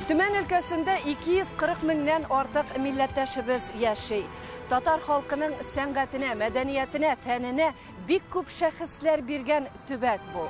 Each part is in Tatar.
Төмән өлкәсендә 240 меңнән артык милләттәшебез яши. Татар халкының сәнгатенә, мәдәниятенә, фәненә бик күп шәхесләр биргән төбәк бу.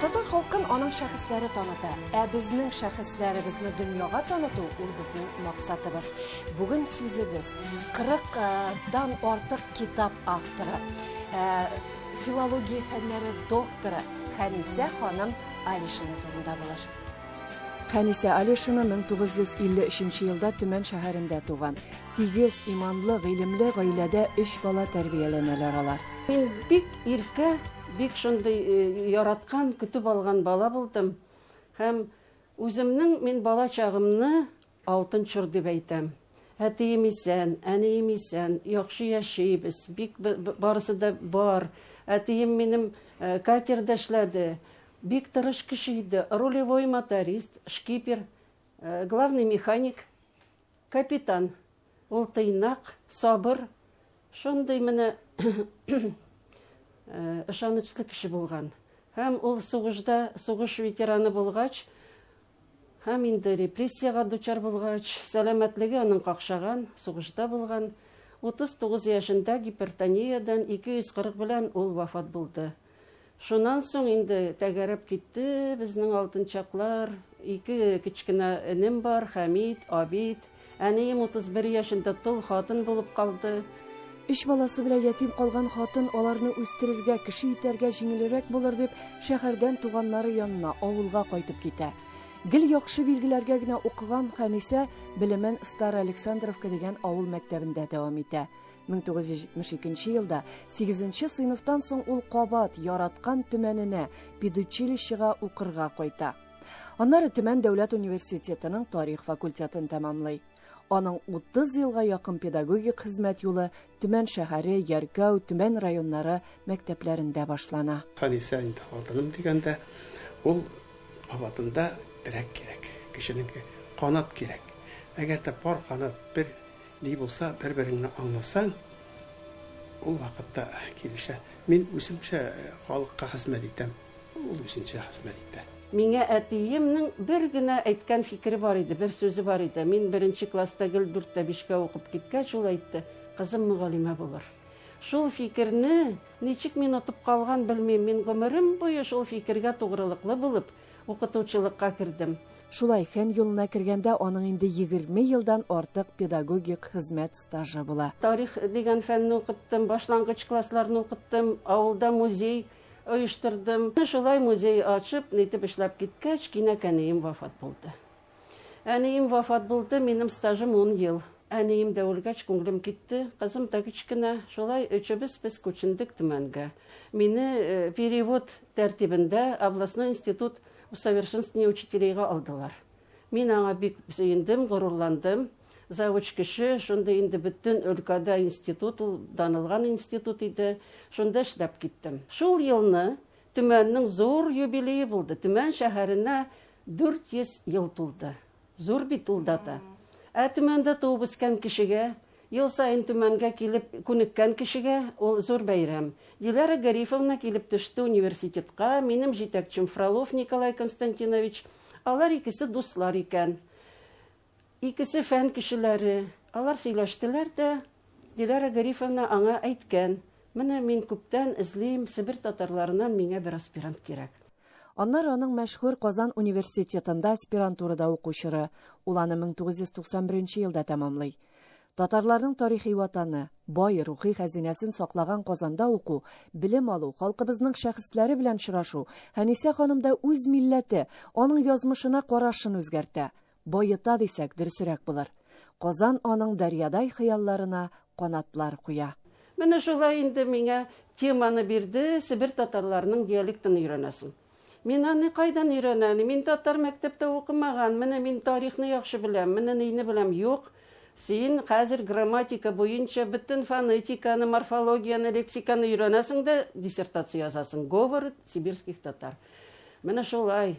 Татар халкын аның шәхесләре таныта. Ә безнең шәхесләребезне дөньяга таныту ул безнең максатыбыз. Бүген сүзебез 40 э, дан артык китап авторы, э, филология фәннәре докторы Хәнисә ханым Алишина турында булыр. Хәнисә Алишина 1953 елда Төмән шәһәрендә туган. Тигез, иманлы, гыйлемле гаиләдә өч бала тәрбияләнәләр алар. Мин бик иркә, бик шундый э, яраткан, көтеп алган бала булдым. Һәм үземнең мин бала чагымны алтын чор дип әйтәм. Әтием исән, әнием исән, яхшы яшибез, бик барысы да бар. Әтием минем э, катерда эшләде, бик тырыш кеше иде, рулевой моторист, шкипер, э, главный механик – Капитан. Ул тыйнак, сабыр, шундый менә ышанычлы кеше булган. Һәм ул сугышда, сугыш ветераны булгач, һәм инде репрессиягә дучар булгач, сәламәтлеге аның какшаган, сугышта булган. 39 яшендә гипертониядән 240 белән ул вафат булды. Шуннан соң инде тәгәрәп китте безнең алтынчаклар. Ике кечкенә энем бар, Хәмит, Абид. Әнием 31 яшендә тол хатын булып калды. Өч баласы белән ятим калган хатын аларны үстерергә, кеше итәргә җиңелрәк булыр дип, шәһәрдән туганнары янына, авылга кайтып китә. Гел яхшы билгеләргә генә укыган Хәнисә белемен Староалександровка дигән авыл мәктәбендә дәвам итә. 1972 елда 8 нче сыйныфтан соң ул кабат яраткан төмәненә педучилищега укырга кайта. Аннары Төмән дәүләт университетының тарих факультетын тәмамлый. Аның 30 елга якын педагогик хезмәт юлы Төмән шәһәре, Яркәү, Төмән районнары мәктәпләрендә башлана. Хәнисә инде хатыным дигәндә, ул кабатында терәк кирәк, кешенең канат кирәк. Әгәр дә пар канат бер Ни булса, бер-береңне аңласаң, ул вакытта килешә. Мин үземчә халыкка хезмәт итәм, ул үзенчә хезмәт итә. Миңа әтиемнең бер генә әйткән фикере бар иде, бер сүзе бар иде. Мин беренче класста гел дүрт тә бишкә укып киткәч, ул әйтте, Кызым мөгалимә булыр. Шул фикерне ничек мин отып калган, белмим. Мин гомерем буе шул фикергә тугрылыклы булып, Укытучылыкка кердем. Шулай фән юлына кергәндә аның инде егерме елдан артык педагогик хезмәт стажы була. Тарих дигән фәнне укыттым, башлангыч классларны укыттым, авылда музей оештырдым. Шулай музей ачып, нитеп эшләп киткәч, кинәкәнием вафат булды. Әнием вафат булды, минем стажым ун ел. Әнием дә үлгәч, күңелем китте. Кызым да кечкенә. Шулай өчебез без күчендек Төмәнгә. Мине э, перевод тәртибендә областной институт усовершенствования учителейга алдылар. Мин аңа бик сөендем, горурландым. Завуч кеше, шунда инде бөтен өлкәдә институт, ул данылган институт иде. Шунда эшләп киттем. Шул елны Төмәннең зур юбилее булды. Төмән шәһәренә 400 ел тулды. Зур бит ул дата. Ә Төмәндә туып үскән кешегә, ел саен Төмәнгә килеп күнеккән кешегә ул зур бәйрәм. Диләрә Гарифовна килеп төште университетка, минем җитәкчем Фролов Николай Константинович. Алар икесе дуслар икән. Икесе фән кешеләре. Алар сөйләштеләр дә, Диләрә Гарифовна аңа әйткән, Менә мин күптән эзлим, себер татарларыннан миңа бер аспирант кирәк. Аннары аның мәшһүр Казан университетында аспирантурада уку чоры, ул аны 1991 елда тәмамлый. Татарларның тарихи ватаны, бай рухи хәзинәсен саклаган Казанда уку, белем алу, халкыбызның шәхесләре белән очрашу Хәнисә ханымда үз милләте, аның язмышына карашын үзгәртә. Баета дисәк, дөресерәк булыр. Казан аның дәрьядай хыялларына канатлар куя. Менә шулай инде миңа теманы бирде, Себер татарларының диалектын өйрәнәсең. Мин аны кайдан өйрәнән? Мин татар мәктәптә укымаган, менә мин тарихны яхшы беләм, менә нейне беләм. Юк, син хәзер грамматика буенча бөтен фонетиканы, морфологияне, лексиканы өйрәнәсең дә диссертация язасың, Говоры сибирских татар. Менә шулай.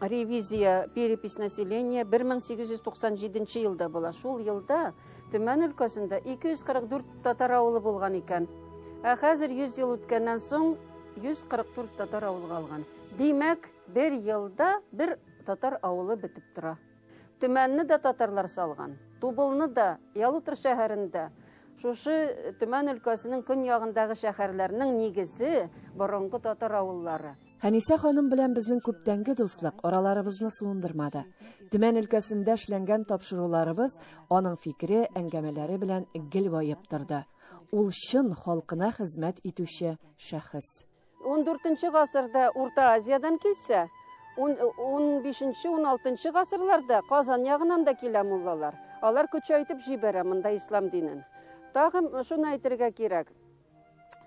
ревизия перепись населения 1897 елда була. Шул елда Төмән өлкәсендә 244 татар авылы булган икән. Ә хәзер 100 ел үткәннән соң 144 татар авылы калган. Димәк, бер елда бер татар авылы бетеп тора. Төмәнне дә татарлар салган. Тубылны да, Ялутыр шәһәрендә шушы Төмән өлкәсенең көньягындагы шәһәрләрнең нигезе борынгы татар авыллары. Хәнисә ханым белән безнең күптәнге дуслык араларыбызны суындырмады. Төмән өлкәсендә эшләнгән тапшыруларыбыз аның фикере, әңгәмәләре белән гел баеп торды. Ул чын халкына хезмәт итүче шәхес. 14 гасырда Урта Азиядән килсә, 15-16 гасырларда Казан ягынан да килә муллалар. Алар көчәйтеп җибәрә монда ислам динен. Тагын шуны әйтергә кирәк,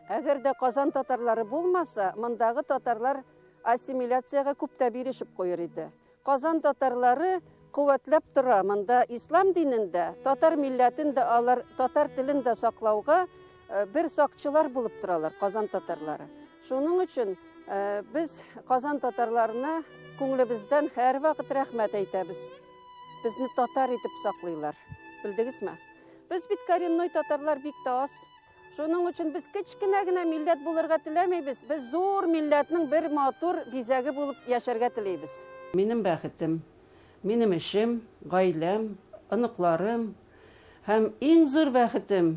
Әгәр дә Казан татарлары булмаса, мондагы татарлар ассимиляциягә күп тә бирешеп куер иде. Казан татарлары куәтләп тора монда ислам динен дә, татар милләтен дә алар, татар телен дә саклауга э, бер сакчылар булып торалар Казан татарлары. Шуның өчен э, без Казан татарларына күңелебездән һәрвакыт рәхмәт әйтәбез. Безне татар итеп саклыйлар. Белдегезме? Без бит коренной татарлар бик тә аз. Шуның өчен без кечкенә генә милләт булырга теләмибез. Без зур милләтнең бер матур бизәге булып яшәргә телибез. Минем бәхетем, минем эшем, гаиләм, оныкларым һәм иң зур бәхетем,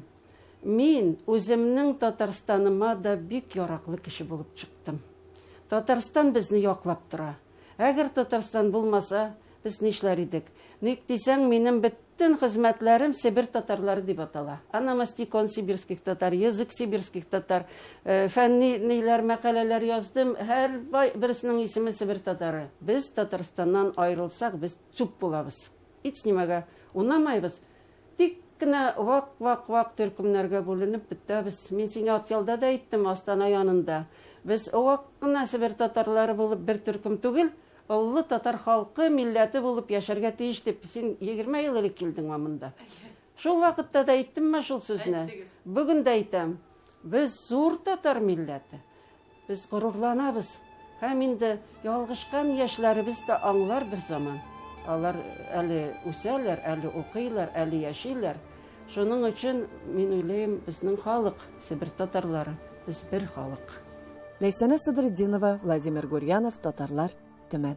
мин үземнең Татарстаныма да бик яраклы кеше булып чыктым. Татарстан безне яклап тора. Әгер Татарстан булмаса, без нишләр идек? Ник дисәң, минем бөтен хезмәтләрем Себер татарлары дип атала. Анамастикон сибирских татар, язык сибирских татар, э, фәнни ниләр мәкаләләр яздым. Һәр бай берсенең исеме Себер татары. Без Татарстаннан аерылсак, без чуп булабыз. Ич нимәгә унамайбыз. Тик кенә вак-вак-вак төркемнәргә бүленеп бетәбез. Мин сиңа Атъялда да әйттем, Астана янында. Без вак кына себер татарлары булып бер төркем түгел, оллы татар халкы, милләте булып яшәргә тиеш дип, син егерме ел элек килдеңме монда? Шул вакытта да әйттемме шул сүзне? Әйттегез. Бүген дә әйтәм. Без зур татар милләте. Без горурланабыз һәм инде ялгышкан яшьләребез дә аңлар бер заман. Алар әле үсәләр, әле укыйлар, әле яшиләр. Шуның өчен мин уйлыйм, безнең халык, Себер татарлары, без бер халык. Ләйсәнә Садретдинова, Владимир Гурьянов, Татарлар, Төмән.